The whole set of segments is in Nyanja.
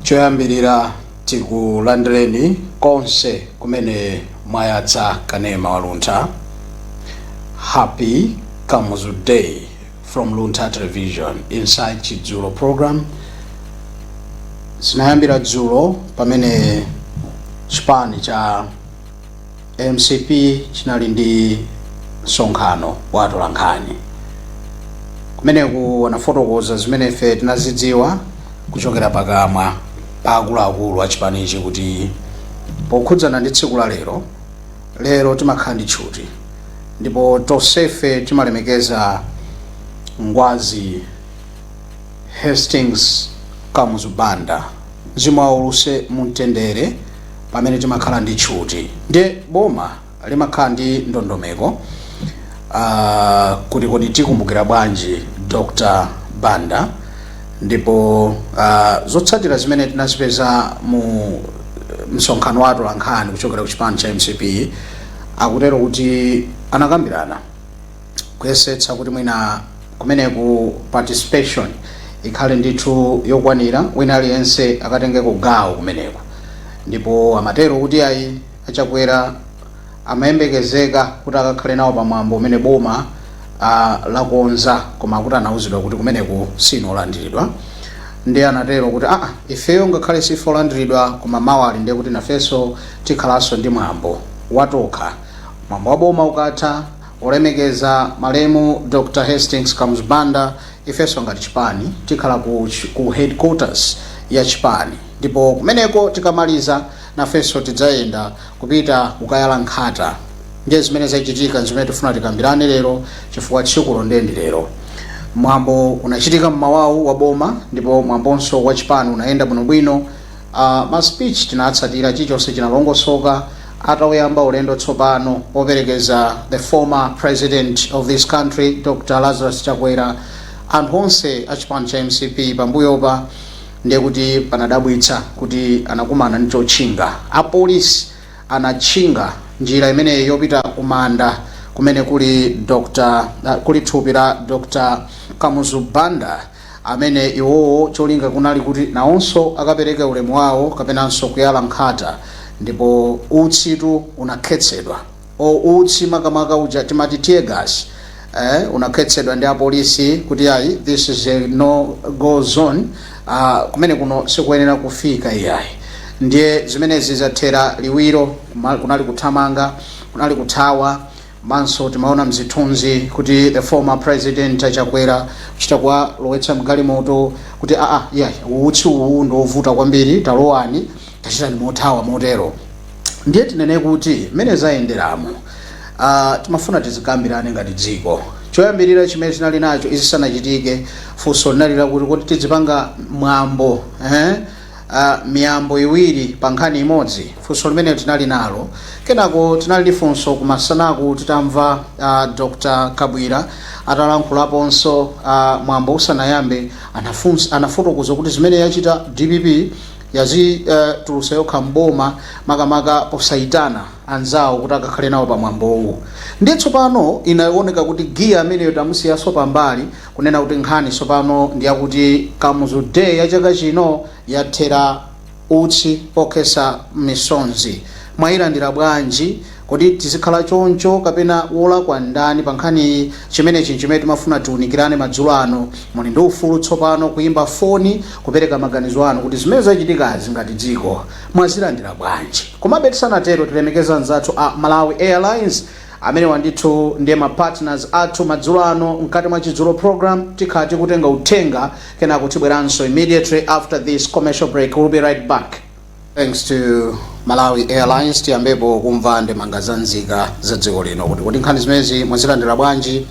choyambirira tikulandireni konse kumene mwayatsa kanema wa luntha happy kamuzu day from luntha television inside chidzulo program zinayambira dzulo pamene chipani cha mcp chinali ndi msonkhano wa atolankhani kumeneku anafotokoza zimene ife tinazidziwa kuchokera pakamwa pa akuluakulu a chipanichi kuti pokhudzana ndi tsiku la lero lero timakhala ndi tchuti ndipo tonsefe timalemekeza ngwazi hastings kamuzu banda mzimu wawo uuse mumtendere pamene timakhala ndi tchuti ndiye boma limakhala ndi ndondomeko uh, kuti kodi tikumbukira bwanji dr banda ndipo uh, zotsatira zimene tinazipeza mu msonkhano wa atolankhani kuchokera ku chipani cha mcp akutero kuti anakambirana kuyesetsa kuti mwina kumeneku participation ikhale ndithu yokwanira wina aliyense akatengeko gawo kumeneku ndipo amatero kuti ayi achakwera amayembekezeka kuti akakhale nawo pamwambo umene boma ah, lakonza koma akuti anauzidwa kuti kumeneku siwolandiridwa ndiye anatero kuti aa ifeyo ngakhale sife olandiridwa koma mawa lilo ndiye kuti nafenso tikhalanso ndi mwambo watokha mwambo wa boma ukatha Olemekeza malemu Dr Hastings Kamuzu Banda, ifenso ngati chipani tikhala ku ku headquarters ya chipani ndipo kumeneko tikamaliza nafenso tidzayenda kupita kukayala nkhata ndiye zimene zachitika nzimene tifuna tikambirane lero chifukwa tsikulo ndiye ndi lero. Mwambo unachitika mmawawu wa boma ndipo mwambonso wa chipani unayenda bwinobwino. A ma speech tinatsatira chilichonse chinalongosoka atauyamba ulendo tsopano operekeza the former president of this country Dr Lazarus Chakwera anthu onse a chipani cha mcp pambuyopa ndiye kuti panadabwitsa kuti anakumana ndi chotchinga apolisi anatchinga njira imeneyi yopita ku manda kumene kuli Dr kuli thupi la Dr Kamuzu Banda amene iwowo cholinga kunali kuti nawonso akapereke ulemu wawo kapenanso kuyala nkhata ndipo utsitu unakhetsedwa or utsi makamaka uja timati tear gas eh, unakhetsedwa ndi apolisi kuti ayi this is a no go zone uh, kumene kuno sikuyenera kufika iyayi ndiye zimenezi zathera liwiro kuma- kunali kuthamanga kunali kuthawa Komanso timaona mzithunzi kuti the former president a Chakwera kuchita kuwalowetsa mgalimoto kuti aa iyayi utsi uwu ndi wovuta kwambiri talowani tachitani mothawa motero. Ndiye tinene kuti mmene zayenderamo timafuna tizikambirane ngati dziko. Choyambirira chimene tinali nacho izi zisanachitike funso linali lakuti kodi tizipanga mwambo eeh, a miyambo iwiri pa nkhani imodzi funso limene tinali nalo kenako tinali ndi funso kumasanaku titamva uh, dr kabwira atalankhulaponso uh, mwambo usanayambe anafunsa- anafotokoza kuti zimene yachita dpp yadzitulutsa uh, yokha mboma makamaka posayitana anzawo kuti akakhale nawo pa mwambowu ndiye tsopano zinaoneka kuti giya ameneyo tamusiyaso pambali Kunena kuti nkhani tsopano ndi yakuti Kamuzu Day ya chaka chino yathera utsi okhetsa misonzi. Mwayilandira bwanji? Kodi tizikhala choncho kapena wolakwa ndani pa nkhaniyi? Chimenechi n'chimene timafuna tiwunikirane madzulo ano. Muli ndi ufulu tsopano kuyimba foni kupereka maganizo anu kuti zimene zachitikazi ngati dziko mwazilandira bwanji? Komabe tisanatero tilemekeze anzathu a Malawi Airlines. Amenewa ndithu ndiye ma partners athu madzulo ano mkati mwa Chidzulo program. Tikhala tikutenga uthenga kenako tibweranso immediately after this commercial break. We'll be right back. Thanks to Malawi Airlines tiyambepo kumva ndemanga za nzika za dziko lino kuti kodi nkhani zimenezi mwazilandira bwanji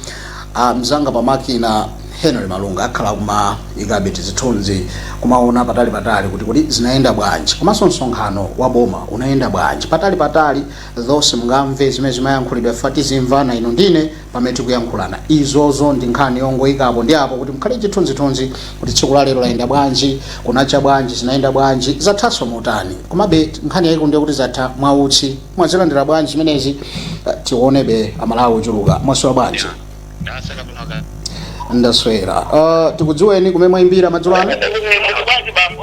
ah, mzanga pa makina Henry Malunga akhala akumaikabe tizithunzi kumaona patali patali kuti kodi zinayenda bwanji komanso msonkhano wa boma unayenda bwanji patali patali Though simungamve zimene zimayankhulidwa chifukwa tizimvana inu ndine pamene tikuyankhulana. Izozo ndi nkhani yongoika apo ndi apo kuti mukhale ndi chithunzithunzi kuti tsiku la lero layenda bwanji, kunacha bwanji, zinayenda bwanji, zathanso motani. Komabe nkhani yayikulu ndiye kuti zatha mwa utsi. Mwazilandira bwanji zimenezi? Tiwonebe a Malawi ochuluka. Mwaswera bwanji? Ndaswera bwino kaya. Ndaswera. Uh, tikudziweni kumene mwayimbira madzulo ano? Ndaswera bwanji bambo?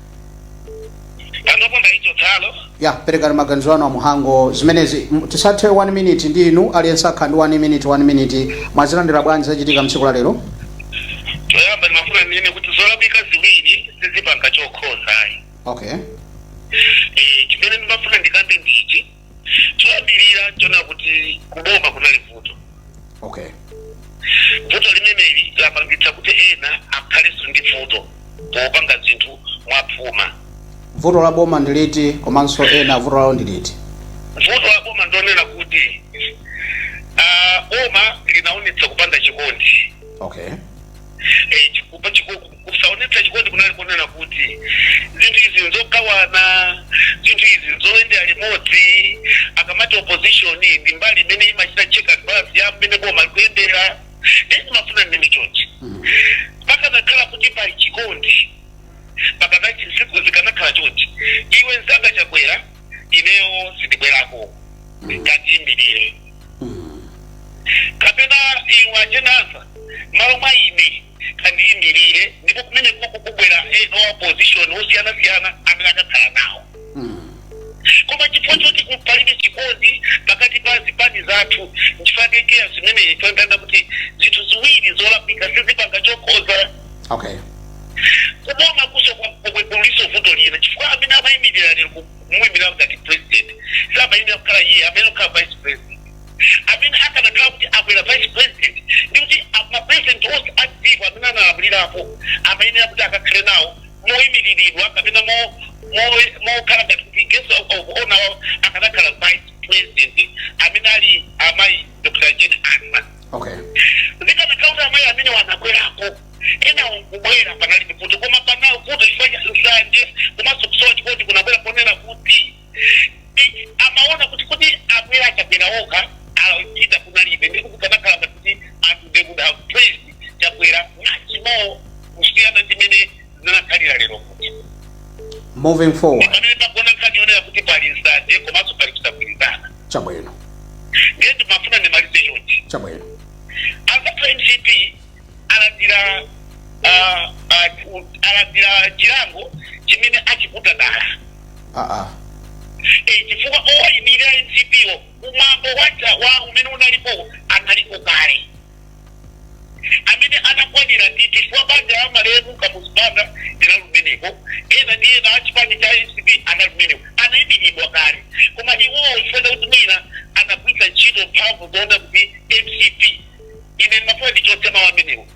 panopo ndaichotsalo ya perekani maganizo anu a Mhango zimenezi M- tisathe 1 minute ndi inu aliyense akhale ndi 1 minute 1 minute mwazilandira bwanji zachitika mtsiku la lero choyamba ndimafuna ndinene kuti zolakwika ziwiri sizipanga chokhoza ayi okay Eh, chimene ndimafuna ndikambe ndi ichi choyambirira n'chonena kuti kuboma kunali vuto okay vuto limeneli lapangitsa kuti ena akhalenso ndi vuto popanga zinthu mwaphuma vuto la boma ndi liti komanso ena vuto lawo ndi liti vuto la boma ndi lonena kuti ah, boma linaonetsa kupanda chikondi okay Eh, chikupa chiko- Kusaonetsa chikondi kunali konena kuti, zinthu izi nzogawana, zinthu izi nzoyendera limodzi. Akamati opposition ndi mbali imene imachita check and balance ya mmene boma likuyendera, ndiye ndimafuna ndinene chonchi, pakanakhala kuti pali chikondi pakadati zinthu zikanakhala chonchi, iwe mzanga Chakwera ineyo sindibwerako, kandiimirire kapena iwe a Jane Ansah mmalo mwa ine. kandiyimirire ndipo kumeneku kubwera ena a opposition osiyanasiyana amene akakhala nawo koma chifukwa choti palibe chikondi pakati pa zipani zathu nchifukwa chake zimene toyangana kuti zinthu ziwiri zolakwika sizipanga chokhoza okay kubomakunso kulinso vuto lina chifukwa amene amayimirira lero kumuyimirira ngati president samayenera kukhala iye amayenera kukhala vice president amene akanakhala kuti abwera vice president ndi kuti a- ma president onse a dziko amene analamulirapo amayenera kuti akakhale nawo moyimiriridwa kapena mo- mo- mokhala ngati kuti guest of of honor wawo akanakhala vice president amene ali amayi dr jane ansah okay zikanakhala kuti amayi amenewa anabwerako ena kubwera panalibe vuto koma pano vuto chifukwa cha nsanje komanso kusowa chikondi kunabwera ponena kuti Ndi- amaona kuti kuti abwera chakwera okha achita kunalibe ndipo kukanakhala ngati kuti anthu they would have praised chakwera much more kusiyana ndi mene zinakhalira lero kuti moving forward pamene pagona nkhani yonena kuti pali nsanje komanso pali kusagwirizana chabwino ndiye ndimafuna ndimalize chonchi chabwino as a mcp alandira ah, ah, u- alandira chilango chimene achiputa dala aa Eh, chifukwa owayimirira mcp ku mwambo wacha wa umene unalipo analipo kale amene anakwanira ndi chifukwa banja la malemu kamuzu banda linali kumeneko ena ndi ena achipani cha mcp anali kumeneko anayimiridwa kale koma iwowo chifukwa chakuti mwina anagwiritsa ntchito mphamvu zonena kuti mcp ine ndimafuna ndichotse mawu amenewo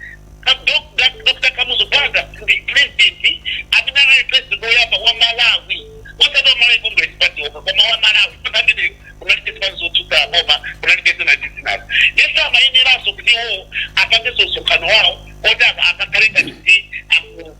Ka- Dok- Dak- dr kamuzu banda ndi president amene anali president woyamba wa malawi osati wa malawi congress party okha koma wa malawi nthawi imeneyo kunalibe zipani zotsutsa boma kunalibe zina ndi zinazo yes amayeneranso kuti iwo apangenso msonkhano wawo oti aka- akakhale ngati kuti aku-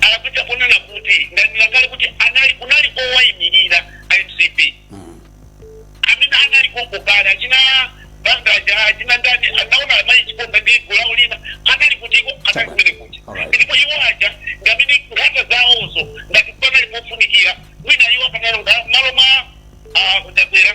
alakwitsa ponena kuti ndanena kale kuti anali kunali owaimirira a mcp amene anali konko kale achina banda aja achina ndani anaona amayi chiponda ndi gulu lawo lina anali kutiko anali kumene kuti Alright. ndipo iwo aja ngamene nkhata zawozo ngati panali pofunikira mwina iwo akanalonga malo mwa ah, chakwera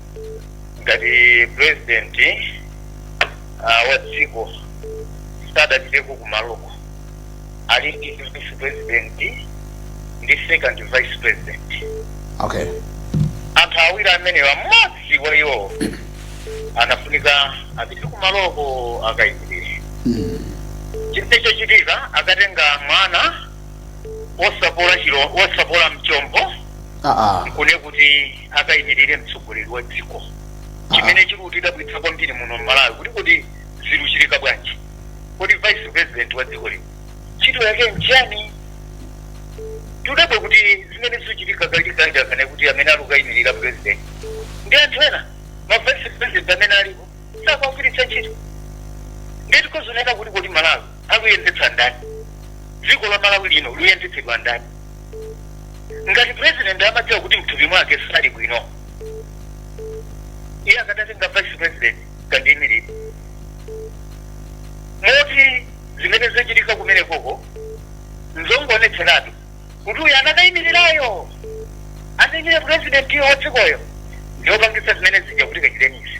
ngati president uh, wa dziko sadapiteko kumaloko ali ndi vice president ndi second vice president okay anthu awiri amenewa mmodzi wa iwo anafunika apite kumaloko akayimirire chimene chochitika akatenga mwana wosapola chilo wosapola mchombo aa kune kuti akayimirire mtsogoleri wa dziko chimene chiri kutidabwitsa kwambiri muno malawi kuti kodi ziruchitika bwanji kodi vice president wa dziko lino ntchito yake nchani tudabwa kuti zimene zikuchitika kachikhala kana kuti amene ali kukayimirira president ndi anthu ena ma vice president amene alipo sakuwagwiritsa ntchito ndeti kozoneka kuti kodi malawi akuyendetsa ndani dziko la malawi lino luyendetsedwa ndani ngati president amadziwa kuti mthupi mwake sali bwino iye akadatenga vice president kandiyimirire moti zimene zachitika kumene koko nzongoonetseratu kuti uyu anakayimirirayo anayimirira president yo wadzikoyo ndiyopangisa zimene zija kuti kachitenisi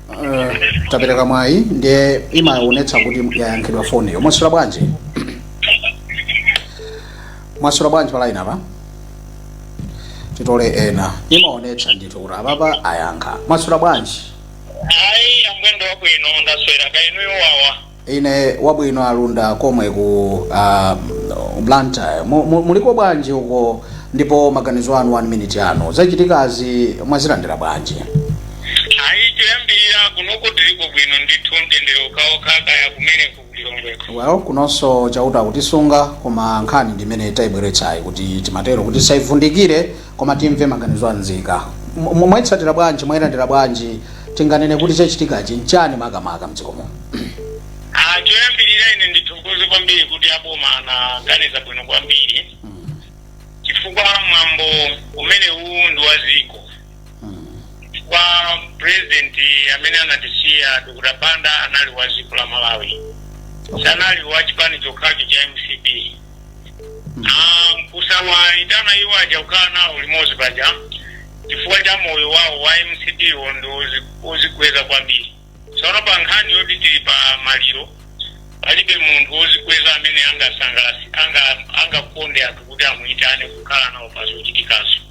Uh, tapereka mwayi ndiye imaonetsa kuti yayankhidwa foniyo mwaswera bwanji mwaswera bwanji palaini apa titole ena imaonetsa ndithu kuti apapa ayankha mwaswera bwanji ayi amwendo wabwino ndaswera kaya inuyo wawa Ine wabwino alunda komwe ku uh, Blantyre mu, mu, muliko bwanji uko ndipo maganizo anu 1 minute yanu zachitikazi mwazilandira bwanji ayi choyambirira kunoko tiliko bwino ndithu mtendere okhaokha kaya kumene kukulilongweko well kunonso chauta akutisunga koma nkhani ndimene taibweretsayi kuti timatero kuti saivundikire Koma timve maganizo a nzika. Mwaitsatira bwanji? Mwailandira bwanji? Tinganene kuti chachitikachi nchani makamaka mdziko muno? A, choyambirira ine ndithokoze kwambiri kuti aboma anaganiza bwino kwambiri chifukwa mwambo umenewu ndi wa dziko chifukwa president amene anatisiya Dr. Banda anali wa dziko la Malawi sanali wa chipani chokhacho cha MCP Ah, nkusawayitana iwo aja kukhala nawo limodzi paja chifukwa cha moyo wawo wa mcp wo ndi wozi- wozikweza kwambiri tsono pa nkhani yoti tili pa maliro palibe munthu wozikweza amene angasangalasi anga angakonde anthu kuti amuyitane kukhala nawo pa zochitikazo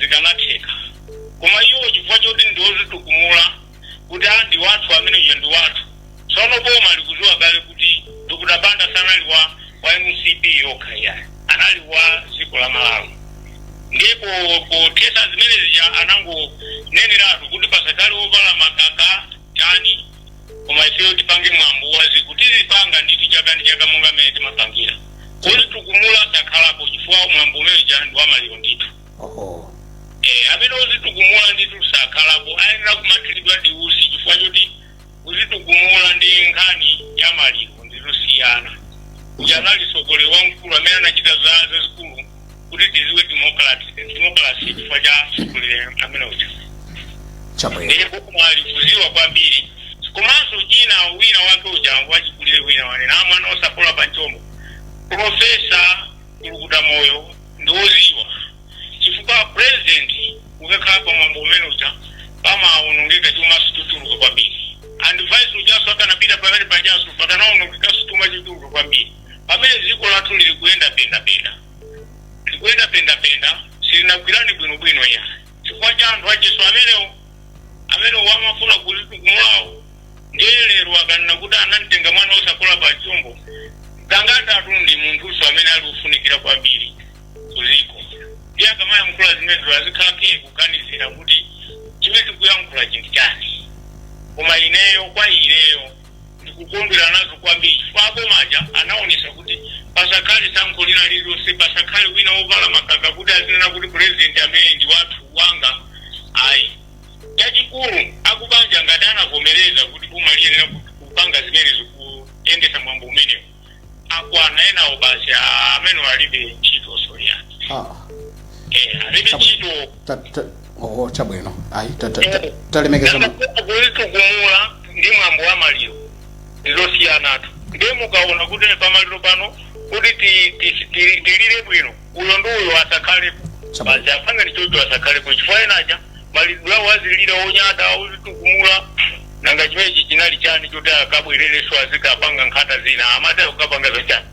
zikanatheka koma iwo chifukwa choti ndi odzitukumula kuti a ndi wathu amene uja ndi wathu tsono boma likuziwa kale kuti dr banda sanali wa wa mcp yokha iyayi anali wa dziko la malawi ndipo pothetsa zimene zija anangoneneratu kuti pasakhale ovala makaka chani koma ifeyo tipange mwambo wa dziko tizipanga ndithu chaka ndi chaka monga mmene timapangira odzitukumula sakhalapo chifukwa mwambo umene uja ndi wamaliro ndithu oho Eh, amene odzitukumula ndithu sakhalapo ayenera kumathiridwa ndi utsi chifukwa choti kudzitukumula ndi nkhani ya maliro ndizosiyana uja anali mtsogoleri wamkulu amene anachita zazikulu kuti tiziwe democracy chifukwa cha mtsogoleri amene uja chabwino ndiye boma likuziwa kwambiri komanso china wina wake uja wachikulire wina wanena mwana osapola pa mchombo profesa kulukuta moyo ndi woziwa chifukwa president ukakhala pa mwambo umene uja pamaonongeka chuma chikutuluka kwambiri and vice ujanso akanapita pamene pajanso pakanaonongeka chuma chituluka kwambiri pamene dziko lathu lili kuyenda pendapenda likuyenda pendapenda silinagwirani bwinobwino ya chifukwa cha anthu achitsotso amenewo amene amafuna kuzitukumulawo ndiye lero akanena kuti anamtenga mwana osapola pa mchombo gangata tu ndi munthunso amene ali kufunikira kwambiri kuziko ndiye akamayankhula zimenezo azikhala kaye kuganizira kuti chimene tikuyankhula chinthu chani koma ineyo kwa ineyo ndikukondwera nazo kwambiri chifukwa aboma aja anaonesa kuti pasakhale tsankho lina lililonse pasakhale wina wovala makaka kuti azinena kuti purezidenti ameneyu ndi wathu wanga ayi chachikulu akubanja ngati anavomereza kuti boma liyenera kupanga zimenezo kuyendesa mwambo umenewo akwana enawo basi ah, amene alibe ntchito siya Ah, Eh, alibe Chabo. ntchito ta- ta- oh, chabwino ayi ta- ta- ta- talemekeza ma- kudzitukumula ndi mwambo wa maliro ndizosiyanatu ndiye mukaona kuti pamaliro pano kuti ti- ti- ti- tilire bwino uyo ndi uyo asakhalepo Chabo. basi apanga ndichocho asakhalepo chifukwa enaja maliro wadzilira wonyada wodzitukumula nanga chimenechi chinali chani choti akabwererenso azikapanga nkhata zina amati akapanga zachani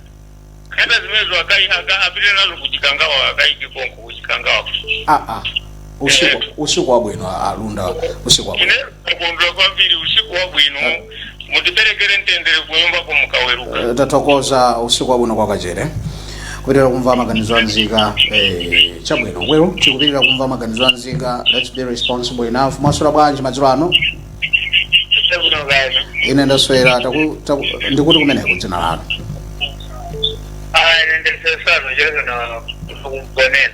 nkhata zimenezo akai aka apite nazo kuchikangawa akaike konko kuchikangawa ah, ah. usiku usiku wabwino alunda usiku wabwino ine kukondwa kwambiri usiku wabwino mutiperekere mtendere kunyumbako mukaweruka Eh, tathokoza usiku wabwino kwa kachere kupitirira kumva maganizo a nzika eh, chabwino weru tikupitirira kumva maganizo a nzika let's be responsible enough mwaswera bwanji madzulo ano chabwino kani ine ndaswera taku- taku- ndikuti kumeneko dzina lanu aya ndendesesano chazana kugonena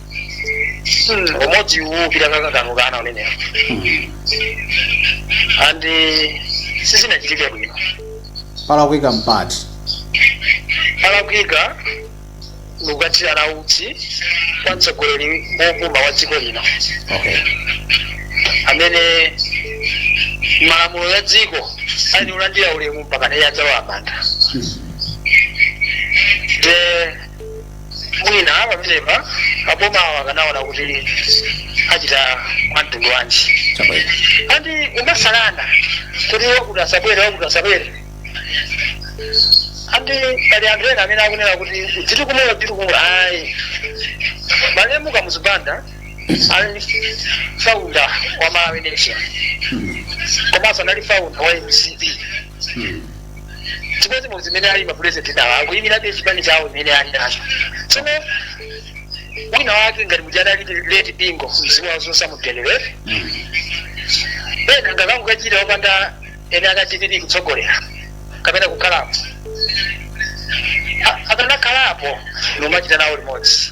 Hmm, umodzi uwu upita kakanganukana unenewo and sizinachitike bwino palakwika mpati palakwika ndikukathirana utsi okhetsa misozi wopuma wa dziko lino okay amene malamulo ya dziko ali ulandira ulemu mpaka naye adzawamanda de mwina pamenepa a bomawo akanaona kuti achita mwamtundu wanji chabwino and kumasalana kuti wakuti asabwere wakuti asabwere and pali anthu ena amene akunena kuti udziti kumula udziti kumula ayi malemu kamuzu banda anali founder wa malawi nation komanso anali founder wa mcp chimodzi mu zimene ali mapulezidenti nawo akuyimirabe chipani chawo imene ali nacho tsono wina wake ngati muja adali leti bingo mzimu wawo zonse amudelewere ena ngati akukachita opanda ene akachitiri kutsogolera kapena kukhalapo A- akanakhalapo nomachita nawo limodzi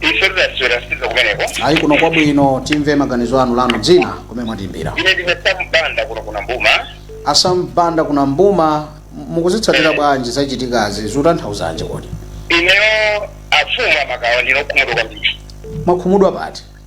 ife tidaswera sizo kumeneko ayi kuno kwabwino timve maganizo anu lanu dzina kumene mwatiimbira ine ndine sam banda kuno ku nambuma a sam banda ku nambuma mukuzitsatira bwanji zachitikazi zikutanthauzanji kodi ineyo afumu amakawa ndine okhumudwa kwambiri mwakhumudwa pati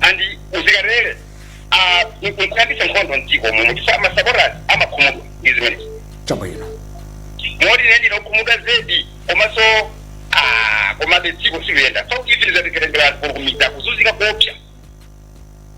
and kuzikatere nkuyambisa nkhondo mdziko muno chifukwa ma supporters amakhumudwa ndi zimenezi chabwino moti ine ndine okhumudwa zedi komanso ah, komabe dziko silikuyenda so izi lizatekerengera anthu kumidzi akuzunzika koopsa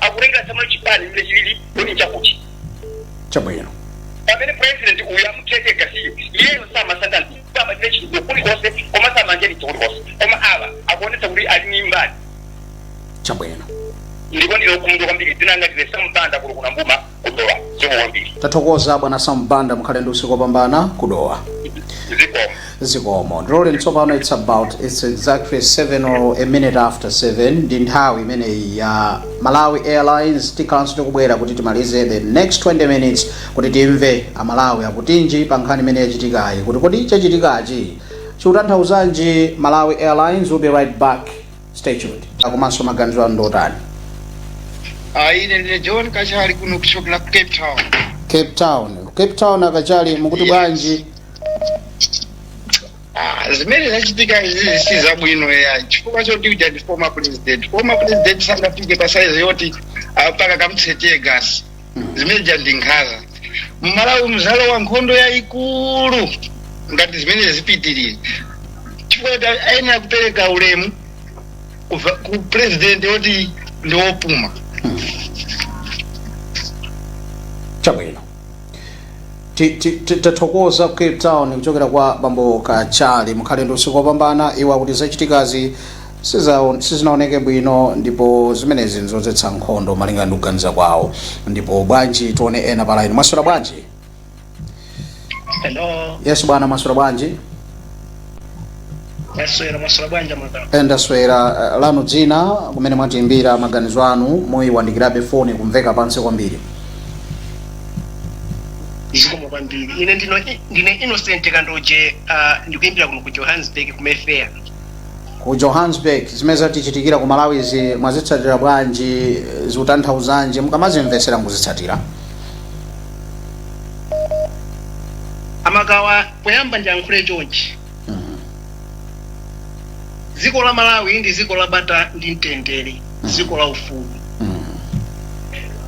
akutengatsamo chipani mmene chilili kodi chakuti chabwino pamene president uyu amuthira teargas-yo iyeyo samasankha anthu amachita chitukuko kulikonse koma samanja chitukuko kulikonse koma awa akuonetsa kuti ali ni mbali chabwino ndipo ndine okhumudwa kwambiri dzina langa ndine sam banda kuno ku nambuma ku dowa zikomo kwambiri tathokoza bwana sam banda mukhale ndi usiku wopambana ku dowa zikomo zikomo ndiloleni tsopano its about its exactly 7 or a minute after 7 ndi nthawi imeneyi ya malawi airlines tikhalanso tikubwera kuti timalize the next 20 minutes kuti timve amalawi akutinji pa nkhani imene yachitikayi kuti kodi chachitikachi chikutanthauzanji malawi airlines we'll be right back stay tuned komanso maganizo anu ndotani Ah, ine ndine john kachali kuno kuchokera ku cape town cape town cape town a kachali mukuti Yes. bwanji Ah, zimene zachitika izi si zabwino ya chifukwa choti uja ndi former president former president sangafike pa size yoti ah, mpaka kumuthira teargas zimene zijazi ndi nkhanza mmalawi mudzalowa nkhondo yayikulu ngati zimene zipitirira chifukwa ta- ayenera kupereka ulemu ku va- ku purezidenti woti ndi wopuma chabwino Ti- ti- ti- tathokoza ku cape town kuchokera kwa bambo kachali mukhale ndi usiku wopambana iwo akuti zachitikazi sizaon- sizinaoneke bwino ndipo zimenezi nzodzetsa nkhondo malinga ndi kuganiza kwawo ndipo bwanji tione ena pa line mwaswera bwanji Hello, yes bwana mwaswera bwanji mwaswera mwaswera bwanji mwadala. ndaswera eh, lanu dzina kumene mwatiimbira maganizo anu muyiwandikirabe foni kumveka pansi kwambiri Zikomo kwambiri. Ine ndino ndine Innocent Kandoje uh, ndikuimbira kuno ku Johannesburg ku Mayfair. ku johannesburg zimene zatichitikira ku malawizi mwazitsatira bwanji zikutanthauzanji mukamazimvetsera mukuzitsatira amakawa poyamba ndiyankhule chonchi dziko la malawi ndi dziko la bata ndi mtendere dziko la ufulu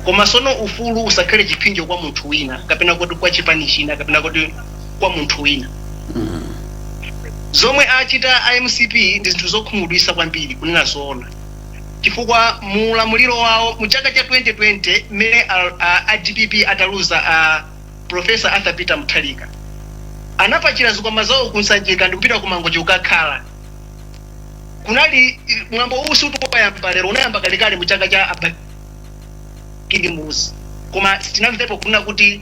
koma sono ufulu usakhale chipsinjo kwa munthu wina kapena kuti kwa chipani china kapena kuti kwa munthu wina zomwe achita a mcp ndi zinthu zokhumudwisa kwambiri kunena zoona chifukwa mu ulamuliro wawo mu chaka cha 2020 mmene a- a- a dpp ataluza a profesa arthur peter mutharika anapakira zikwama zawo kunsanjika ndikupita ku mangochi kukakhala kunali mwambo uwu si ukuyamba lero unayamba kalekale mu chaka cha a bakili muluzi koma sitinamvepo kunena kuti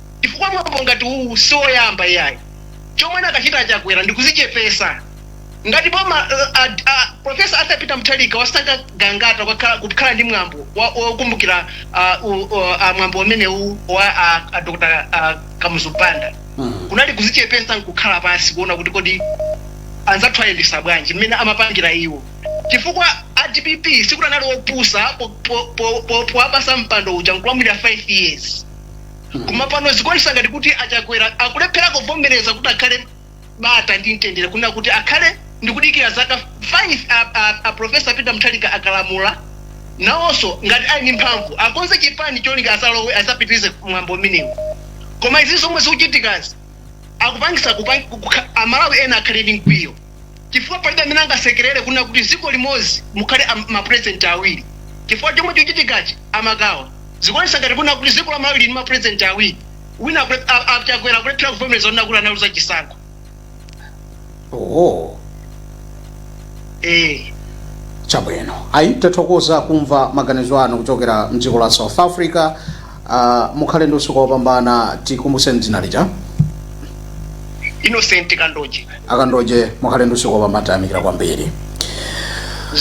chifukwa mwambo ngati uwu sioyamba iyayi. Chomwe akanachita a Chakwera ndikuzichepesa. Ngati boma la a, a Prof. Arthur Peter Mutharika wasankha Gangata kukakhala, kukhala ndi mwambo wa, wokumbukira a, u, u, a mwambo umenewu wa a, a Dr. a, Kamuzu Banda kunali kuzichepesa nkukhala pansi kuona kuti kodi anzathu ayendesa bwanji mmene amapangira iwo chifukwa a dpp sikuti anali opusa po- po- po- po- powapatsa mpando uja nkulamulira 5 years Koma pano zikuonesa ngati kuti a Chakwera akulephera kuvomereza kuti akhale bata ndi mtendere kunena kuti akhale ndikudikira zaka 5 a, a, a Professor Peter Mutharika akalamula nawonso ngati ali ndi mphamvu akonze chipani cholinga azalowe azapitirize mwambo umenewu. Koma izi zomwe zikuchitikazi akupangisa kupang, kukha, amalawi ena akhale ndi mkwiyo. chifukwa palibe amene angasekerere kunena kuti dziko limodzi mukhale am- mapurezidenti awiri chifukwa chomwe chochitikachi amakawa zikuonesa ngati kunena kuti dziko la malawi lili ndi mapurezidenti awiri wina akule- a- a- chakwera akulephera kuvomereza kunena kuti analuza chisankho oh. eh. chabwino ayi tathokoza kumva maganizo anu kuchokera mdziko la south africa Uh, mukhale ndi usiku wopambana tikumbutseni dzina lija Innocent Kandoje a Kandoje mukhale ndi usiku wopambana tayamikira kwambiri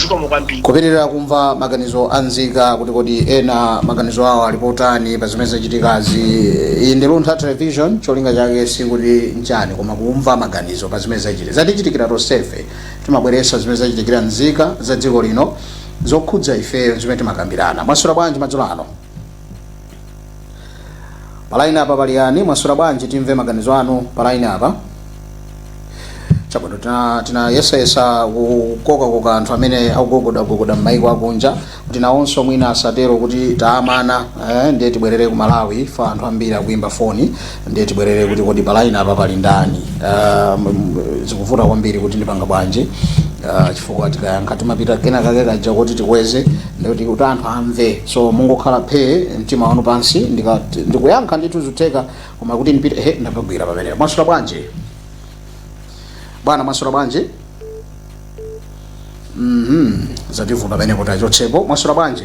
zikomo kwambiri kupitirira kumva maganizo a nzika kuti kodi ena maganizo awo ali potani pa zimene zachitikazi iyi ndi Luntha Television cholinga chake sikuti nchani koma kumva maganizo pa zimene zachitika zatichitikira tonsefe timabweretsa zimene zachitikira nzika za dziko lino zokhudza ifeyo zimene timakambirana mwaswera bwanji madzulo ano palaini apa pali yani mwaswera bwanji timve maganizo anu palaini apa chabwino tina- tinayesayesa kukokakoka anthu amene akugogodagogoda m'maiko akunja kuti nawonso mwina asatero kuti tawamana eh, ndiye tibwerere ku Malawi chifukwa anthu ambiri akuyimba foni ndiye tibwerere kuti kodi pa line apa pali ndani Ah, m- m- zikuvuta kwambiri kuti ndipanga bwanji Ah, chifukwa tikayankha timapita kena kake kaja kuti tikweze ndikuti kuti anthu amve so mungokhala phee mtima wanu pansi ndikati- ndikuyankha ndithu zutheka koma kuti ndipite he ndapagwira pamenepo mwaswera bwanji bwana mwaswera bwanji mhm zativuta pamenepo tachotsapo mwaswera bwanji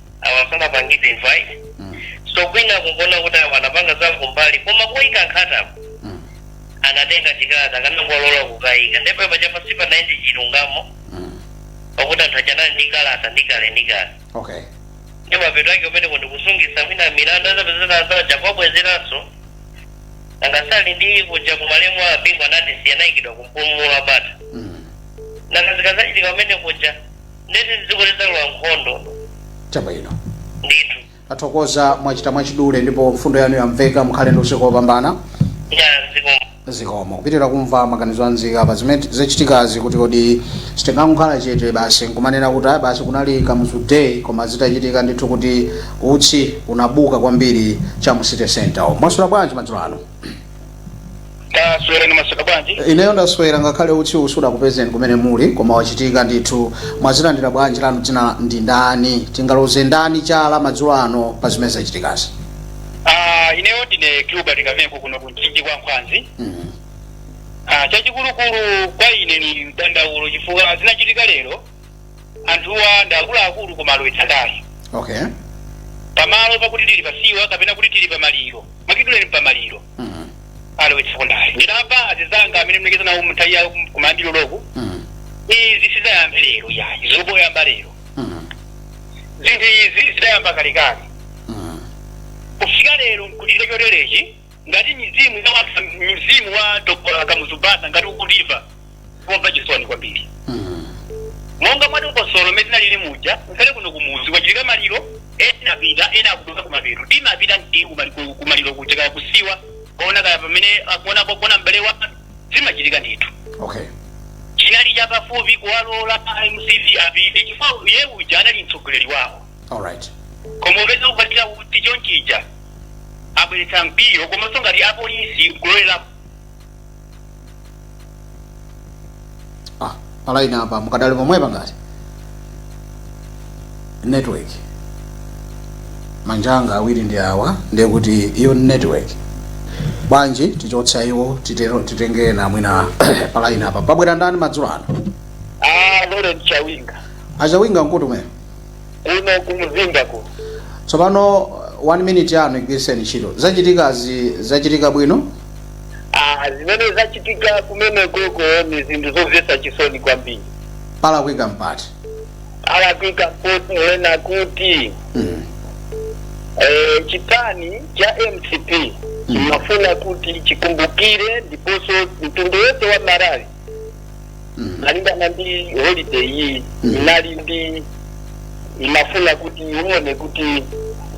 awa sanapangidwe invite mm. so kwina kungoona kuti awa anapanga za kumbali koma kuyika nkhatako mm. anatenga chikalata akanangowalola kukayika ndipo apapa sipanayende chilungamo mm. pakuti anthu achanali ndi kalata ndi kale ndi kale okay ndi mapeto ake umene kundikusungisa mwina milandu azapezeka azaja kwabwezeranso angasali ndi kuja kumalemu a Bingu asanayikidwe kumpumulo wa bata mm. nakazikazachitika umene kuja nde kuti dziko lidzalowa nkhondo chabwino ndithu tathokoza mwachita mwachidule ndipo mfundo yanu yamveka mukhale ndi usiku wopambana ya dziko zikomo kupitira kumva maganizo a nzika pa zimene zachitikazi kuti kodi sitingangokhala chete basi nkumanena kuti ayi basi kunali Kamuzu Day koma zitachitika ndithu kuti utsi unafuka kwambiri cha mu city center mwaswera bwanji madzulo ano taswera mwaswera bwanji ineyo ndaswera ngakhale utsi uwu sudakupezeni kumene muli koma wachitika ndithu mwazilandira bwanji lanu dzina ndi ndani tingaloze ndani chala madzulo ano pa zimene zachitikazi Ah, ineyo ndine Gilbert Kamengo kuno ku Mchinji kwa Nkhwazi Mhm. Ah, chachikulukulu kwa ine ni mdandaulo chifukwa zinachitika lero anthuwa ndi akuluakulu koma alowetsa ndale okay pamalo pakuti tili pasiwa kapena kuti tili pamaliro mwachidule pamaliro mm. alowetsako ndale ndinamva anzanga amene munalankhula nawo m'nthawi yawo kum- kumayambiro loku Mm. izi sizidayambe lero yayi zongoyamba lero Mm. zinthu izi zidayamba kalekale Mm. kufika lero nkutire choterechi ngati mizimu ya wanthu mzimu wa dr kamuzu banda ngati ukutimva ukumva chisoni kwambiri monga mwa dongosolo mmene tinalili muja ngakhale kuno kumuzi kwachitika maliro ena apita ena akuduka kumapeto timapita ndi kumali- ku- kumaliro kuja kaya ku siwa kuona kaya pamene akuona kuona m'bale wawo zimachitika ndithu okay chinali chapafupi kuwalola mcp apite chifukwa iye uja anali mtsogoleri wawo All right. koma upeza kuti chonchija abweretsa mkwiyo komanso ngati apolisi kulowerera Ah, palaini apa mukadali pomwepa ngati network manjanga awiri ndi awa ndiye kuti iyo ni network bwanji tichotsa iwo titenge ena mwina palaini apa pabwera ndani madzulo ano Ah, Lawrence Chawinga. achawinga nkuti kumene kuno kumzinda kuno tsopano one minute yanu igwiriseni ntchito zachitikazi zachitika bwino Ah, zimene zachitika kumene koko ni zinthu zomvetsa chisoni kwambiri palakwika mpoti alakwika mponena kuti mm. eh, chipani cha mcp chimafuna kuti chikumbukire ndiponso mtundu wonse wa malawi malingana ndi holiday iyi inali ndi umafuna kuti uone kuti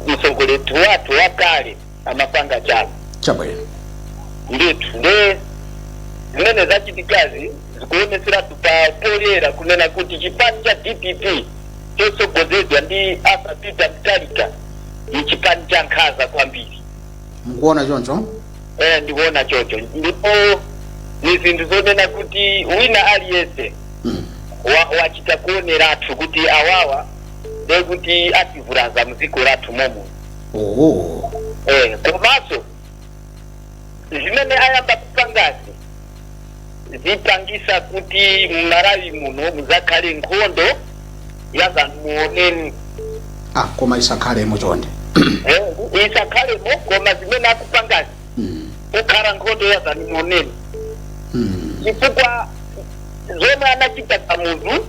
mtsogoleri wathu wakale amapanga chani chabwino ndithu nde zimene zachitikazi zikuoneseratu pa poyera kunena kuti chipani cha dpp chotsogozedwa ndi arthur peter mutharika ni chipani cha nkhanza kwambiri mukuona choncho eh, ndikuona chocho ndipo ni zinthu zonena kuti wina aliyense wa- wachita kuoneratu kuti awawa nde kuti ativulaza mdziko lathu muno oho eh, komanso zimene ayamba kupangazi zipangisa kuti mmalawi muno muzakhale nkhondo yazaoneni ah koma isakhalemo chonde Eh, isakhalemo koma zimene akupangazi Mm, kukhala nkhondo yazaoneni mm, chifukwa zomwe anachita kamuzu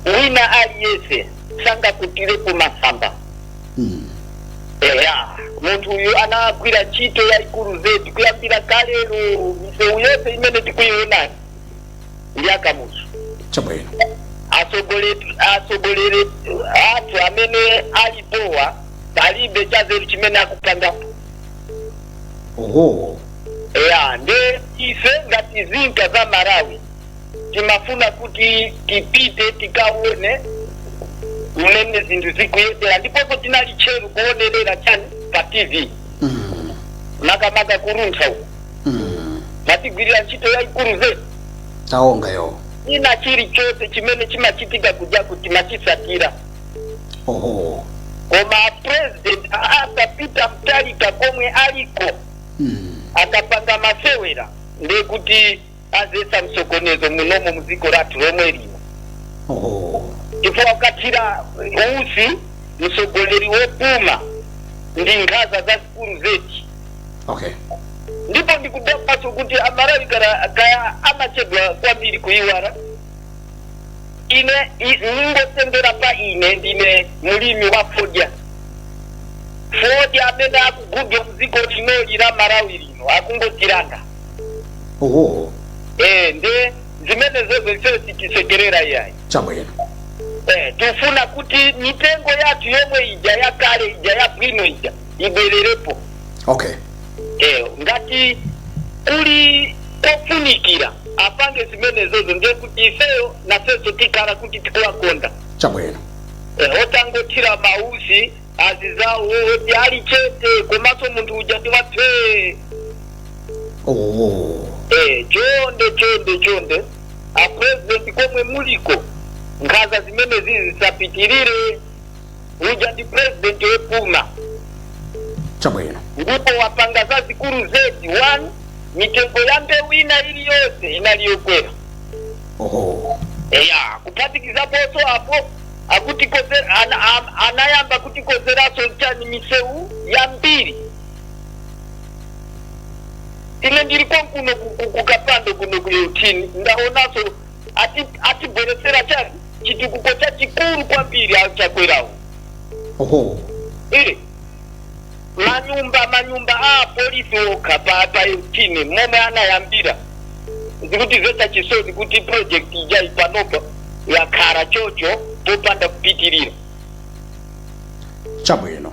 wina aliyense sangakwirirepo masamba eya munthu uyu anagwira ntchito yayikulu zedi kuyambira kalero misewu yonse imene tikuyiona ndi akamuzu chabwino atsogoleri athu amene alipowa palibe chazeru chimene akupangapo oho eya nde ife ngati nzika za malawi timafuna kuti tipite tikaone mmene zinthu zikuyendera ndiponso tinali tcheru kuonerera chani pa tv Mm. makamaka kuruntha uku Mm. matigwirira ntchito yayikulu zedi taonga yo ina chilichonse chimene chimachitika kuja timachitsatira oho koma president Arthur Peter Mutharika komwe aliko Mm. akapanga masewera ndekuti adzetsa msokonezo munomo mdziko lathu lomwe lino Oh. chifukwa kuthira utsi mtsogoleri wopuma ndi nkhaza zazikulu zedi Okay. ndipo ndikudabwanso kuti amalawi kaya kaya amachedwa kwambiri kuiwala ine i- ningotengera pa ine ndine mlimi wa fodya fodya amene akugulidwa mdziko linoli la malawi lino akungotiranga oho eh nde zimenezozo ifeyo sitisekerera iyayi chabwino eh tifuna kuti mitengo yathu yomwe ija yakale ija yabwino ija ibwererepo okay eh ngati kuli kofunikira apange zimenezozo ndiye kuti ifeyo nafeso tikhala kuti tikuwakonda chabwino eh, otangothira mautsi anzizawo oti ali chete komanso munthu uja ndi waphee oh. Eh, chonde chonde chonde a president komwe muliko nkhaza zimenezi zisapitirire uja ndi president wopuma chabwino ndipo wapanga zazikulu zedi one mitengo ya mbewu ina iliyonse inaliyokwera oho eya kuphatikizaponso apo akutikonzera ana, am- anayamba kutikonzeranso chani misewu yambiri ine ndili konkuno ku- ku- kukapando kuno ku yotini ndaonanso ati- atibweretsera chani chitukuko chachikulu kwambiri achakwerawo oho Eh, manyumba manyumba a apolisi okha pa yotini momwe anayambira zikutimvetsa chisoni kuti project ija ipanopa yakhala chocho popanda kupitirira chabwino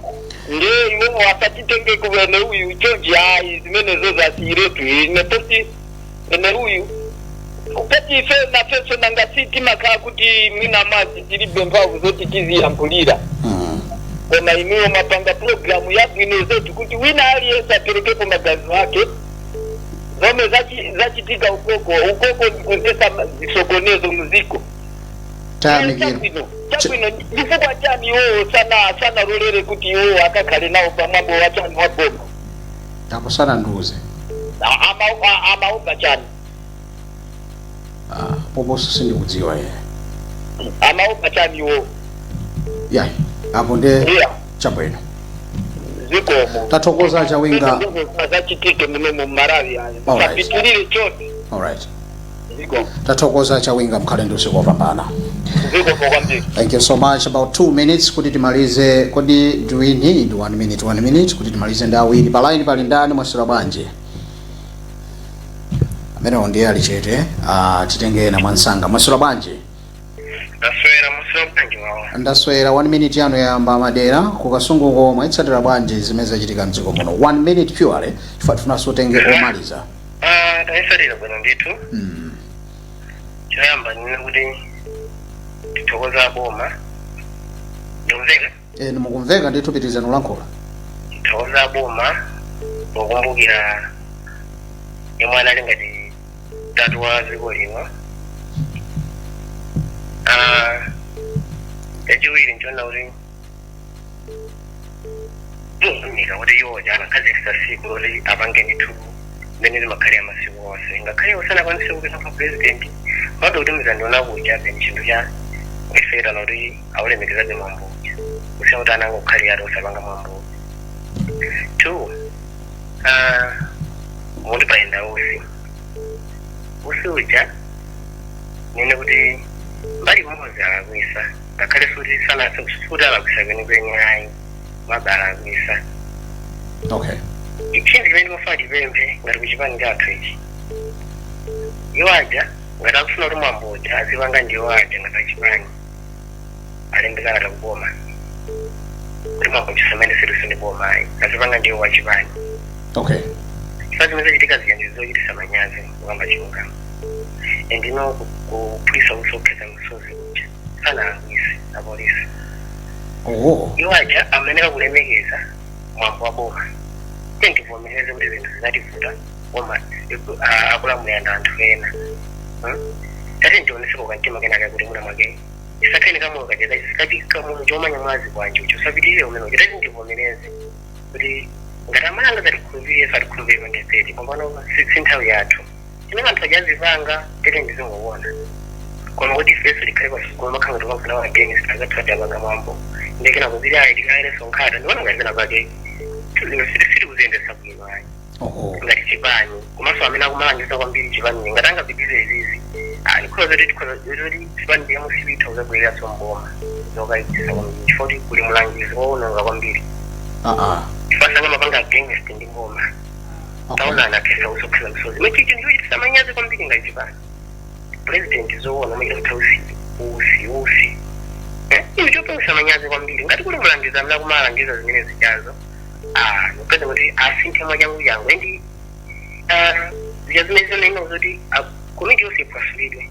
nde iwo asatitenge kuwene uyu chonchi ayi zimenezo asiyiretu ine poti ene uyu ngati ife nafenso nanga si timakhala kuti mwina mwazi tilibe mphamvu zoti tiziyankhulira koma inuyo mwapanga programu yabwino zoti kuti wina aliyense aperekepo maganizo ake zomwe zachi- zachitika ukoko ukoko ndikudzetsa zisokonezo muziko tayamikira chabwino chabwino chifukwa chani iwowo sana sanalolere kuti iwowo akakhale nawo pamwambo wa chani wa boma apo sanandiuze a- ama- a- amaupa chani Ah, poposo sindikudziwa ye amaupa chani iwo ya apo nde iya chabwino zikomo tathokoza chawinga zachitika muno mu Malawi ayo Alright. sapitirire chote alright zikomo tathokoza chawinga mkhale ndi usiku wopambana zikomo kwambiri thank you so much about two minutes kuti timalize kodi do we need one minute one minute kuti timalize ndi awiri pa line pali ndani mwaswera bwanji amenewo ndiye ali chete ah, titenge ena mwansanga mwaswera bwanji ndaswera mwaswera bwanji wawa ndaswera one minute yanu yayamba madera ku Kasungu ko mwazitsatira bwanji zimene zachitika mdziko muno one minute purely chifukwa tifunanso titenge omaliza Ah, tayitsatira bwino ndithu mm. choyamba ndinene kuti tithokoza boma ndikumveka e, mukumveka ndithu pitirizani kulankhula tithokoza boma pokumbukira yemwe anali ngati tate wa dziko lino Ah, yachiwiri nchona kuti mukuunika kuti iwo uja anakhazikisa tsiku loti apange ndithu mmene limakhalira masiku onse ngakhale sanakwanise kupita kwa purezidenti bado kuti mzandiona kuja then chinthu cha kuifera loti awulemekezabe mwambo uja kusiya kuti anangokhalira ati osapanga mwambo two ah, muti poyenda usi usi uja ndinene kuti mbali imodzi alakwisa ngakhale futi sana futi alakwisa kwenikweni ayi maybe alakwisa okay chinthu chimene timafuna tipemphe ngati kuchipani chathu ichi iwo aja ngati akufuna kuti mwambo uja azipanga ndi iwo aja ngati achipani alembe kalata kuboma kuti mwambo uja usamakhaleso ndi boma ayi azipanga ndi iwo achipani okay chifukwa zimene zachitika zija ndi zochitisa manyazi kukamba chilungamo and ino kuphulisa utsi wokhetsa misozi kuja sanalakwise apolisi oho iwo aja amayenera kulemekeza mwambo wa boma tiyeni tivomereze kuti zinthu zinativuta koma iku- a- akulamulira ndi anthu ena Hmm? tati tionese kakamtima kenaka kuti muna mwake tisakhale kamoyo kacheza sikati kamoyo chomenya mwazi kwanjo chosapitirire umene uja tati tivomereze kuti ngati aMalawi azatikhulupirire azatikhulupirire pa 2030 panopa si si nthawi yathu chimene anthu aja azipanga tete ndizingowona koma kuti ifeso tikhale pasukulu makhala ngati kwamfuna wa against angathu adapanga mwambo ndekena kuzili ayi tikaikeso nkhata ndiona ngati pena pake zinthu sitikuziyendesa bwino ayi oho ngati chipani komanso amene akumalangiza kwambiri chipani ngati angapitirize izizi ah, ndikhoza zoti tikhoza zoti chipani cha mcp itha kuzabwereranso mboma zokayikisa kwambiri chifukwa kuti kuli mlangizi wowononga kwambiri aa chifukwa sangamapange against ndi mboma taona anakhetsa usi okhetsa misozi machicho ndi chochitisa manyazi kwambiri ngati chipani president zoona kumachita kuthawa usi usi usi Eh, inu chopangisa manyazi kwambiri ngati kuli mulangizi amene akumalangiza zimene zijazo ah, nopeza kuti asinthe mwachangu changu endi ah, zija zimene zinaima kuti ah, komiti yonse iphwasulidwe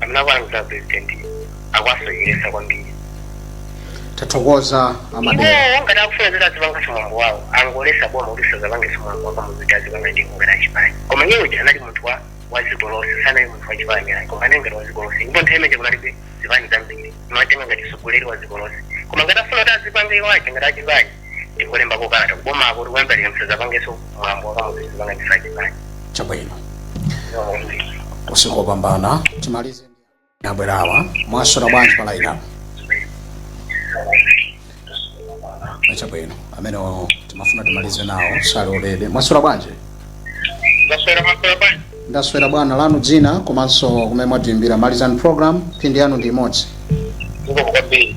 amene akulangiza president akuwasocheresa kwambiri tathokoza amadera iwo ngati akufuna zoti azipangaso mwambo wawo angolesa boma kuti sazapangeso mwambo wa kamuzu day azipanga ndi ngati achipani koma iye uja anali munthu wa wa dziko lonse sanali munthu wa chipani ayi koma anali ngati wa dziko lonse ndipo nthawi imene kunalibe zipani zambiri timatenga ngati mtsogoleri wa dziko lonse koma ngati afuna kuti azipange iwo aja ngati achipani tingolembapo kalata kubomako kuti kuyambira musazapangeso mwambo wa kamuzu day tizipanga ndife achipani chabwino usiku wopambana timalize ndi abwerawa mwaswera bwanji pa laini apo chabwino amene timafuna timalize nawo sali ready mwaswera bwanji ndaswera mwaswera bwanji ndaswera bwana lanu dzina komanso kumene mwatiimbira malizani program mphindi yanu ndi imodzi zikomo kwambiri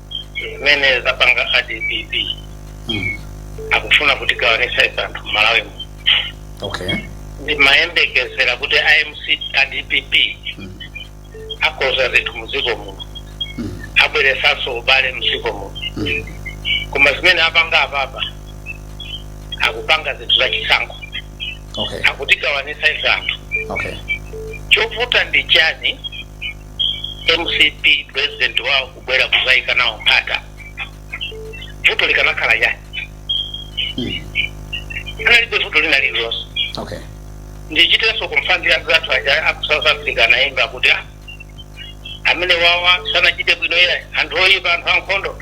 zimene zapanga adpp Mm. akufuna kutigawanisa ife anthu mmalawi muno okay ndimayembekezera kuti amc adpp Mm. akonza zinthu muziko muno Mm. abweresanso ubale muziko muno Mm. koma zimene apanga apapa akupanga zinthu za chisankho okay akutigawanisa ife anthu okay chovuta ndi chani mcp president wawo kubwera kuzaika nawo nkhata vuto likanakhala chani Mm. analibe vuto lina lililonse okay ndichitenso kumfanzi anzathu aja aku south africa anaimba kuti "Ah, amenewawa sanachite bwino ila anthu oyipa anthu ankhondo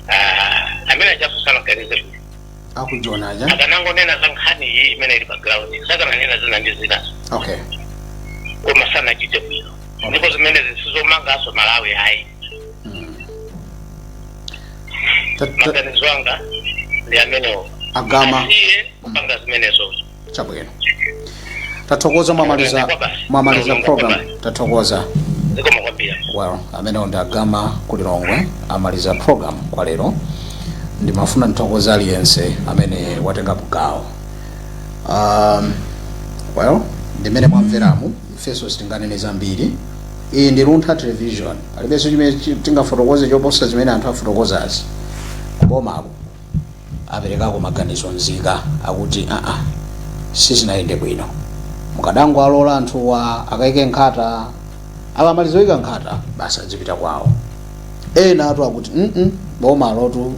Ah, amene ajaso sanaganize bwino akujoni aja akanangonena za nkhani iyi imene ili pa ground sakananena zina ndi zinazo okay koma sanachite bwino ndipo zimenezi sizomanganso malawi ayi Mm. Ta- ta- maganizo anga ndi amenewo agama asiye kupanga zimenezozo chabwino tathokoza mwamaliza mwamaliza program tathokoza zikomo kwambiri well amenewo ndi agama kulilongwe amaliza program kwa lero ndimafuna ndithokoza aliyense amene watengapo gawo um, well ndimene mwamveramu ifenso sitinganene zambiri iyi ndi Luntha television palibenso chimene chi- tingafotokoze choposa zimene anthu afotokozazi kubomako aperekako maganizo nzika akuti aa sizinayende bwino mukadangowalola anthuwa akaike nkhata akamaliza kuika nkhata basi adzipita kwawo enatu akuti mm bomalotu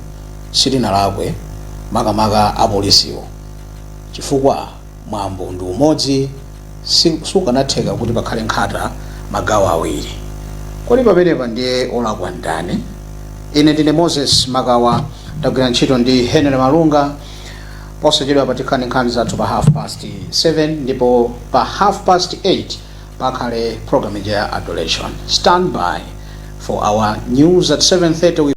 silinalakwe makamaka apolisiwo chifukwa mwambo ndi umodzi si- sukanatheka kuti pakhale nkhata magawo awiri kodi pamenepa ndiye olakwa ndani ine ndine moses makawa ndagwira ntchito ndi henry malunga posachedwa patikhani nkhani zathu pa half past 7 ndipo pa half past 8 pakhale program ija ya adoration stand by for our news at 730 with